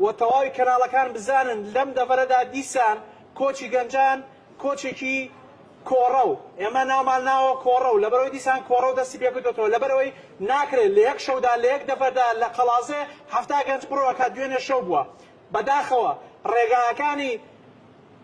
و تەواوی کەناڵەکان بزانن لەم دەڤەرەدا دیسان کۆچی گەنجان کۆچێکی کۆڕە و ئێمە ناومان ناوە کۆڕە و لەبەرئەوەی دیسان کۆڕە و دەستی پێ کردۆتەوە لەبەرئەوەی ناکرێ لە یەک شەودا لە یەک دەڤەردا لە قەڵازێ حەفتا گەنج بڕۆ ئەکا دوێنێ شەو بووە بەداخەوە ڕێگاکانی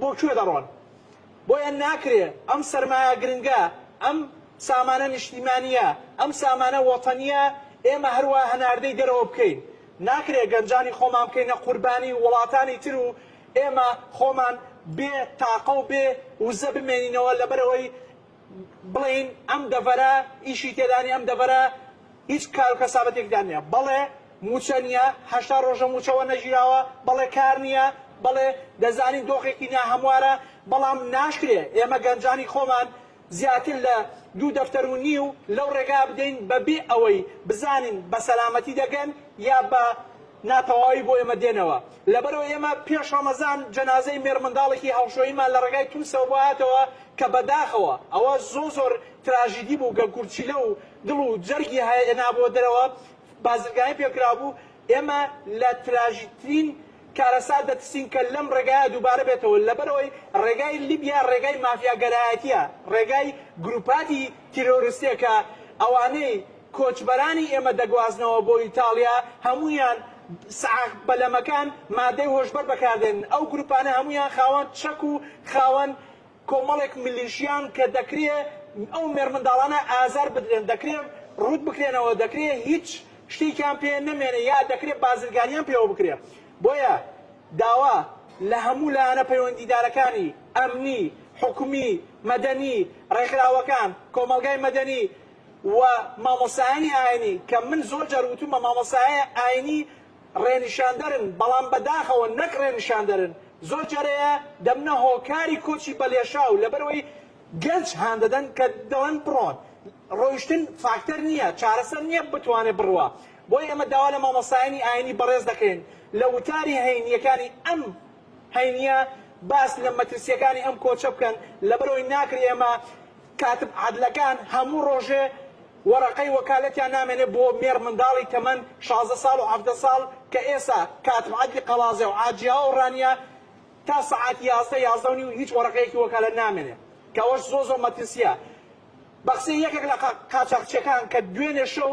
بۆ کوێ دەڕۆن؟ بۆیە ناکرێ ئەم سەرمایە گرنگە، ئەم سامانە نیشتیمانییە، ئەم سامانە وەتەنییە ئێمە هەروا هەناردەی دەرەوە بکەین. ناکرێ گەنجانی خۆمان بکەینە قوربانی وڵاتانی تر و ئێمە خۆمان بێ تاقە و بێ وزە بمێنینەوە لەبەرئەوەی، بڵێین ئەم دەڤەرە ئیشی تێدا نیە، ئەم دەڤەرە هیچ کار و کەسابەتێکی تیا نیە، بەڵێ مووچە نیە، هەشتا ڕۆژە مووچە وەرنەگیراوە، بەڵێ کار نیە، بەڵێ دەزانین دۆخێکی ناهەموارە، بەڵام ناشکرێ ئێمە گەنجانی خۆمان زیاتر لە دوو دەفتەر و نیو لەو ڕێگا بدەین بەبێ ئەوەی بزانین بە سەلامەتی دەگەن یا بە ناتەواوی بۆ ئێمە دێنەوە. لەبەرئەوە ئێمە پێش ڕەمەزان جەنازەی مێرمنداڵێکی هاوشۆیمان لە ڕێگای تونسەوە بۆ هاتەوە کە بەداخەوە ئەوە زۆر زۆر تراژیدی بوو کە گورچیلە و دڵ و جەرگی هێنابووە دەرەوە بازرگانی پێ کرابوو ئێمە لە تراژیدترین کارەسات دەترسین کە لەم ڕێگایە دووبارە بێتەوە لەبەرئەوەی ڕێگای لیبیا ڕێگای مافیاگەرایەتیە ڕێگای گروپاتی تیرۆرستێکە ئەوانەی کۆچبەرانی ئێمە دەگوازنەوە بۆ ئیتاڵیا هەموویان سەعە بەلەمەکان مادەی هۆشبەر بەکاردێنن ئەو گروپانە هەموویان خاوەن چەک و خاوەن کۆمەڵێک ملیشیان کە دەکرێ ئەو مێرمنداڵانە ئازار بدرێن دەکرێ ڕووت بکرێنەوە دەکرێ هیچ شتێکیان پێ نەمێنێ یا دەکرێ بازرگانیان پێوە بکرێ بۆیە داوا لە هەموو لایەنە پەیوەندیدارەکانی ئەمنی حکومی مەدەنی ڕێکخراوەکان کۆمەڵگای مەدەنی و مامۆستایانی ئاینی کە من زۆر جار وتوم بە مامۆستایە ئاینی ڕێنیشاندەرن بەڵام بە داخەوە نەک ڕێنیشاندەرن زۆر جارەیە دەبنە هۆکاری کۆچی بە لێشاو لەبەرئەوەی گەنج هان دەدەن کە دەڵێن بڕۆن ڕۆیشتن فاکتەر نییە چارەسەر نییە بتوانێت بڕوا بۆیە ئێمە داوا لە مامۆستایانی ئاینی بەڕێز دەکەین لە وتاری هەینییەکانی ئەم هەینییە باس لە مەترسییەکانی ئەم کۆچە بکەن لەبەرئەوەی ناکرێ ئێمە کاتب عەدلەکان هەموو ڕۆژێ وەرەقەی وەکالەتیان نامێنێ بۆ مێڕ منداڵی تەمەن شازدە ساڵ و حەڤدە ساڵ کە ئێسا کاتب عەدلی قەڵازێ و عاجیاوا و ڕانیە تا سەعات یازدە یازدە و نیو هیچ وەڕەقەیەکی وەکالەت نامێنێ کە ئەوەش زۆر زۆر مەترسیە بەقسەی یەکێک لە قاچاخچیەکان کە دوێنێ شەو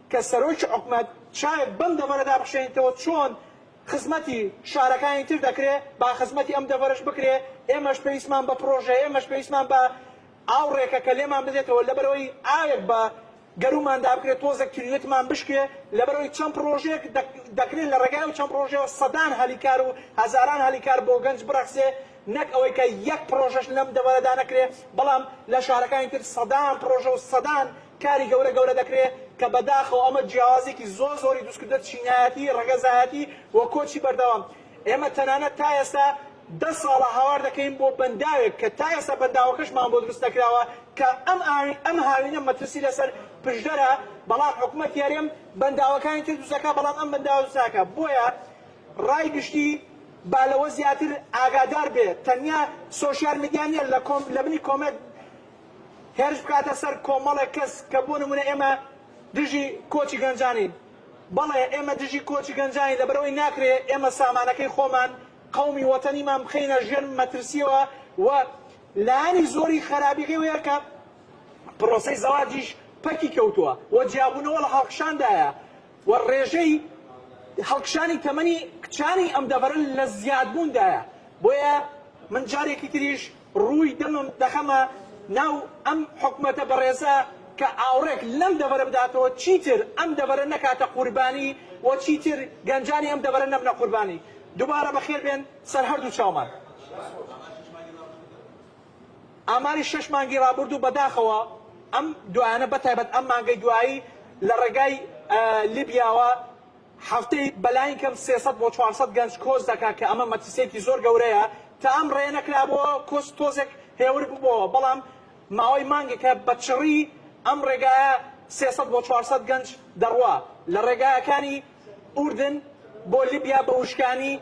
کە سەرۆکی حکومەت چاوێک بەم دەڤەرەدا بخشێنیتەوە چۆن خزمەتی شارەکانی تر دەکرێ با خزمەتی ئەم دەڤەرەش بکرێ ئێمەش پێویستمان بە پرۆژەیە ئێمەش پێویستمان بە ئاو ڕێکە کە لێمان بدێتەوە لەبەرەوەی ئاوێک بە گەروماندا بکرێ تۆزێک کیلوێتمان بشکێ لەبەرەوەی چەند پرۆژەیەک دەکرێ لە ڕێگای ئەو چەند پرۆژەیەوە سەدان هەلی کار و هەزاران هەلی کار بۆ گەنج بڕەخسێ نەک ئەوەی کە یەک پرۆژەش لەم دەڤەرەدا نەکرێ بەڵام لە شارەکانی تر سەدان پرۆژە و سەدان کاری گەورە گەورە دەکرێت کە بەداخەوە ئەمە جیاوازیەکی زۆر زۆری دروستکردوە چینایەتی، ڕەگەزایەتی و کۆچی بەردەوام. ئێمە تەنانەت تا ئێستا دە ساڵە هاوار دەکەین بۆ بەنداوێک کە تا ئێستا بەنداوەکەشمان بۆ دروست نەکراوە کە ئەم ئەم هاوینە مەترسی لەسەر پشدەرە بەڵام حکومەتی هەرێم بەنداوەکانی تر دروست دەکات بەڵام ئەم بەنداوە دروست ناکات بۆیە ڕای گشتی با لەوە زیاتر ئاگادار بێت تەنیا سۆشیال میدیا نیە لە کۆم لە بنی کۆمێنت هێرش بکاتە سەر کۆمەڵێک کەس کە بۆ نموونە ئێمە دژی کۆچی گەنجانین، بەڵێ ئێمە دژی کۆچی گەنجانین لەبەرئەوەی ناکرێت ئێمە سامانەکەی خۆمان، قەومی وەتەنیمان بخەینە ژێر مەترسییەوە و لایەنی زۆری خەراپییەکەی ئەوەیە کە پرۆسەی زەواجیش پەکی کەوتووە و جیابوونەوە لە هەڵکشاندایە و ڕێژەی هەڵکشانی تەمەنی کچانی ئەم دەڤەرە لە زیادبووندایە بۆیە من جارێکی تریش ڕووی دەمم دەخەمە ناو ئەم حکومەتە بەڕێزە کە ئاوڕێک لەم دەڤەرە بداتەوە چیتر ئەم دەڤەرە نەکاتە قوربانی و چیتر گەنجانی ئەم دەڤەرە نەبنە قوربانی. دوبارە بەخێر بێن سەر هەردوو چاومان. ئاماری شەش مانگی ڕابوردوو بەداخەوە ئەم دوایانە بەتایبەت ئەم مانگەی دوایی لە ڕێگای لیبیاوە، هەفتەی بەلاینکەم سێ سەد بۆ چوار سەد گەنج کۆچ دەکات کە ئەمە مەترسیەکی زۆر گەورەیە، تا ئەم ڕێ نەکرابۆوە کۆچ تۆزێک هێور ببۆوە بەڵام ماوەی مانگێکە بە چڕی ئەم ڕێگایە سێ سەد بۆ چوار سەد گەنج دەڕوا لە ڕێگایەکانی ئوردن بۆ لیبیا بە وشکانی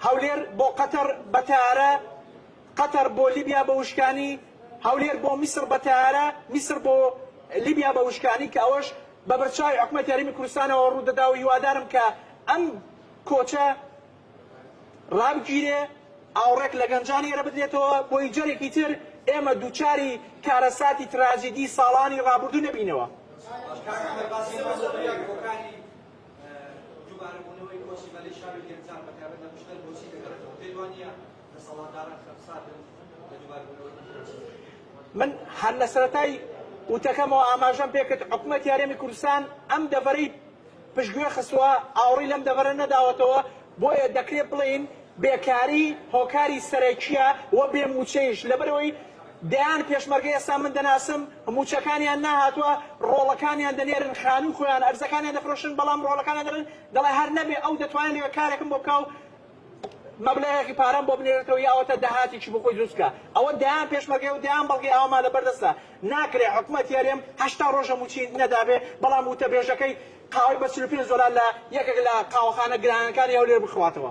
هەولێر بۆ قەتەر بە تەیارە قەتەر بۆ لیبیا بە وشکانی هەولێر بۆ میسر بە تەیارە میسر بۆ لیبیا بە وشکانی کە ئەوەش بە بەرچاوی حکومەتی هەرێمی کورستانەوە ڕوودەدا و هیوادارم کە ئەم کۆچە ڕابگیرێ، ئاوڕێک لە گەنجان ئێرە بدرێتەوە بۆی جەرێکی تر ئێمە دووچاری کارەساتی تراجیدی ساڵانی ڕابوردوو نەبینەوە. من هەر لە سەرەتای وتەکەمەوە ئاماژەم پێکرد حکوومەت یارێمی کوردستان ئەم دەڤەرەی پشتگوێ خستووە ئاوڕی لەم دەڤەرە نەداوەتەوە بۆیە دەکرێت بڵین بێکاری هۆکاری سەرەکیە و بێ موچەیش لەبەرەوەی دەیان پێشمەرگە ئێستا من دەناسم موچەکانیان ناهاتوە ڕۆڵەکانیان دەنێرن خانوو خۆیان ئەرزەکانیان دەفرۆشن بەڵام ڕۆڵەکانیان دەرن دەڵێ هەر نەبێ ئەو دەتوانێت لەوێ کارێکم بۆ بکە و مەبلەغێکی پارەم بۆ بنێرێتەوە یە ئەوەتا داهاتێکی بۆ خۆی دروست بکا ئەوە دەیان پێشمەرگەی و دەیان بەڵگەی ئەوەمان لە بەردەستە ناکرێ حکومەتی هەرێم هەشتا ڕۆژە مووچەی نەدابێ بەڵام وتەبێژەکەی قاوەی بە چل و پێنج دۆلار لە یەکێک لە قاوەخانە گرانەکانی هەولێر بخواتەوە.